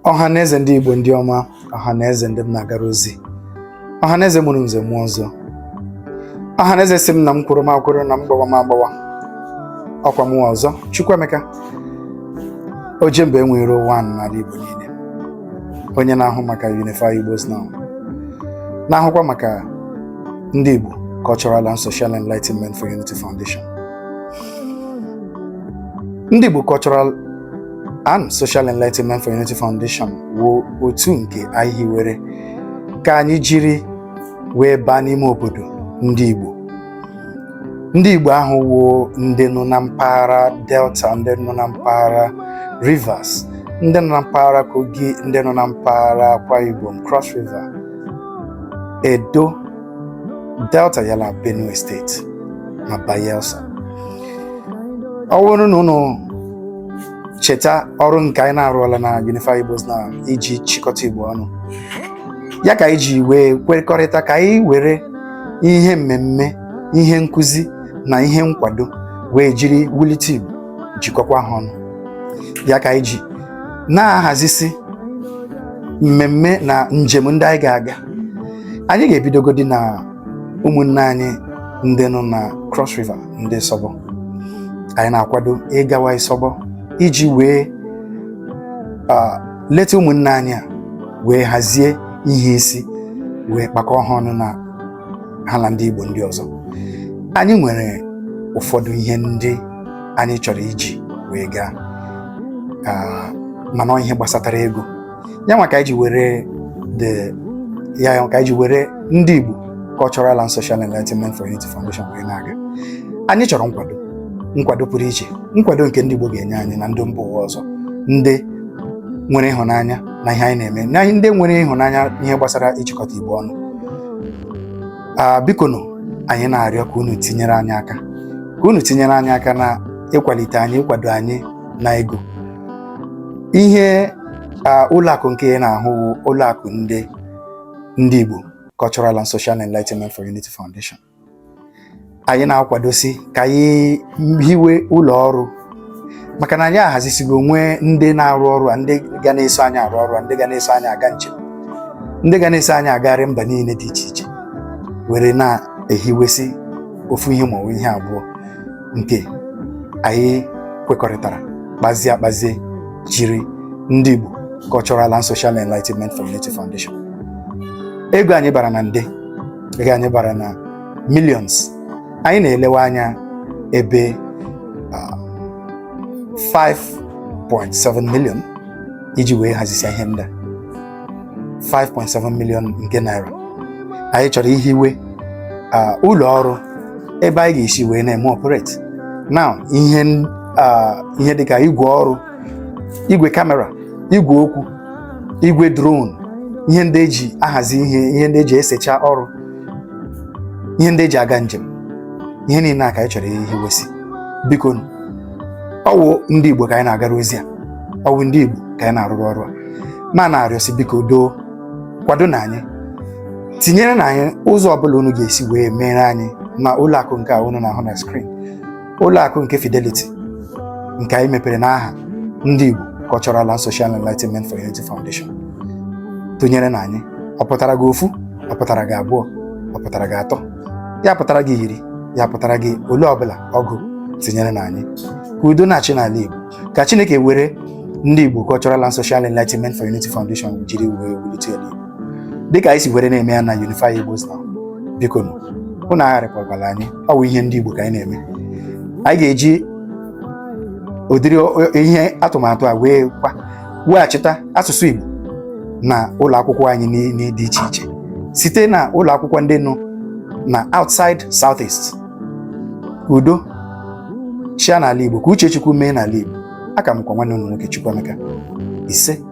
ọha na eze ndị Igbo ndị ọma ọha na eze ndị m na-agara ozi ọha na eze mụrụ nze mụọ ọzọ ọha na eze sị m na m kwụrụ m akwụrụ na m gbawa m agbawa ọ kwa mụwa Ọzọ Chukwuemeka oje mba enwe iro one n'ala Igbo niile onye na-ahụ maka Unify Igbos Now na-ahụkwa maka ndị Igbo Cultural and Social Enlightenment for Unity Foundation ndị Igbo Cultural and Social Enlightenment for Unity Foundation wụ otu nke anyị hiwere ka anyị jiri wee baa n'ime obodo ndị Igbo ndị Igbo ahụ wụ ndị nọ na mpaghara Delta ndị nọ na mpaghara Rivers ndị nọ na mpaghara Kogi ndị nọ na mpaghara Akwa Ibom Cross River Edo Delta yala Benue steeti na Bayelsa ọ bụrụ na unu cheta ọrụ nke anyị na-arụọla na Unify Igbos Now iji chịkọta Igbo ọnụ ya ka anyị ji wee kwekọrịta ka anyị were ihe mmemme ihe nkụzi na ihe nkwado wee jiri wulite Igbo jikọkwa ha ọnụ ya ka anyị ji na-ahazisi mmemme na njem ndị anyị ga-aga anyị ga-ebidogodi na ụmụnne anyị ndị nọ na Cross River ndị Isọbọ anyị na-akwado ịgawa Isọbọ iji wee leta ụmụnne anyị a wee hazie ihe isi wee kpakọọ ha ọnụ na ha na ndị Igbo ndị ọzọ anyị nwere ụfọdụ ihe ndị anyị chọrọ iji wee gaa mana ihe gbasatara ego ya nwa ka anyị ji were the ya ka anyị ji were ndị Igbo Cultural and Social Enlightenment for Unity Foundation wee na-aga anyị chọrọ nkwado nkwado pụrụ iche nkwado nke ndị Igbo ga-enye anyị na ndị mba ụwa ọzọ ndị nwere ịhụnanya na ihe anyị na-eme na ndị nwere ịhụnanya ihe gbasara ịchịkọta Igbo ọnụ a bikonụ anyị na-arịọ ka unu tinyere anyị aka ka unu tinyere anyị aka na ịkwalite anyị ịkwado anyị na ego ihe a ụlọakụ nke ị na-ahụ wụ ụlọakụ ndị ndị Igbo Cultural and Social Enlightenment for Unity Foundation anyị na-akwadosi ka anyị hiwe ụlọ ọrụ maka na anyị ahazisigo nwee ndị na-arụ ọrụ a ndị ga na-eso anyị arụ ọrụ a ndị ga na-eso anyị aga njem ndị ga na-eso anyị agagharị mba niile dị iche iche were na-ehiwesị ofu ihe ma ọ bụ ihe abụọ nke anyị kwekọrịtara kpazie akpazie jiri ndị Igbo Cultural and Social Enlightenment for Unity Foundation ego anyị bara na nde dịka anyị bara na millions anyị na-elewe anya ebe ah, 5.7 million iji wee hazisia ihe ndị a 5.7 million nke naira anyị chọrọ ihiwe ah, ụlọ ọrụ ebe anyị ga-esi wee na-eme operate now ihe n- ah, ihe dịka igwe ọrụ igwe kamera igwe okwu igwe drone ihe ndị eji ahazi ihe ihe ndị eji esecha ọrụ ihe ndị eji aga njem ihe niile a ka anyị chọrọ ihiwesi biko ọ wụ ndị Igbo ka anyị na-agara ozi a ọ wụ ndị Igbo ka anyị na-arụrụ ọrụ a ma na-arịọsi biko doo kwado nụ anyị tinyere nụ anyị ụzọ ọbụla unu ga-esi wee mere anyị na ụlọ akụ nke a unu na-ahụ na skrin ụlọ akụ nke Fidelity nke anyị mepere n'aha ndị Igbo Cultural and Social Enlightenment for Unity Foundation tụnyere nụ anyị ọ pụtara gị ofu ọ pụtara gị abụọ ọ pụtara gị atọ ya pụtara gị iri ya pụtara gị ole ọbụla ọ wụ tinyere nụ anyị ka udo na-achị n'ala Igbo ka Chineke were ndị Igbo Cultural and Social Enlightenment for Unity Foundation jiri wee wulite ala Igbo dịka anyị si were na-eme ya na Unify Igbos Now biko nụ unu agharịpụkwala anyị ọ bụ ihe ndị Igbo ka anyị na-eme anyị ga-eji ụdịrị ihe atụmatụ a wee kwa weghachita asụsụ Igbo na ụlọ akwụkwọ anyị dị iche iche site na ụlọ akwụkwọ ndị nọ na outside southeast ka udo chịa n'ala Igbo ka uche Chukwu mee n'ala Igbo aka m kwa nwanne unu nwoke Chukwuemeka ise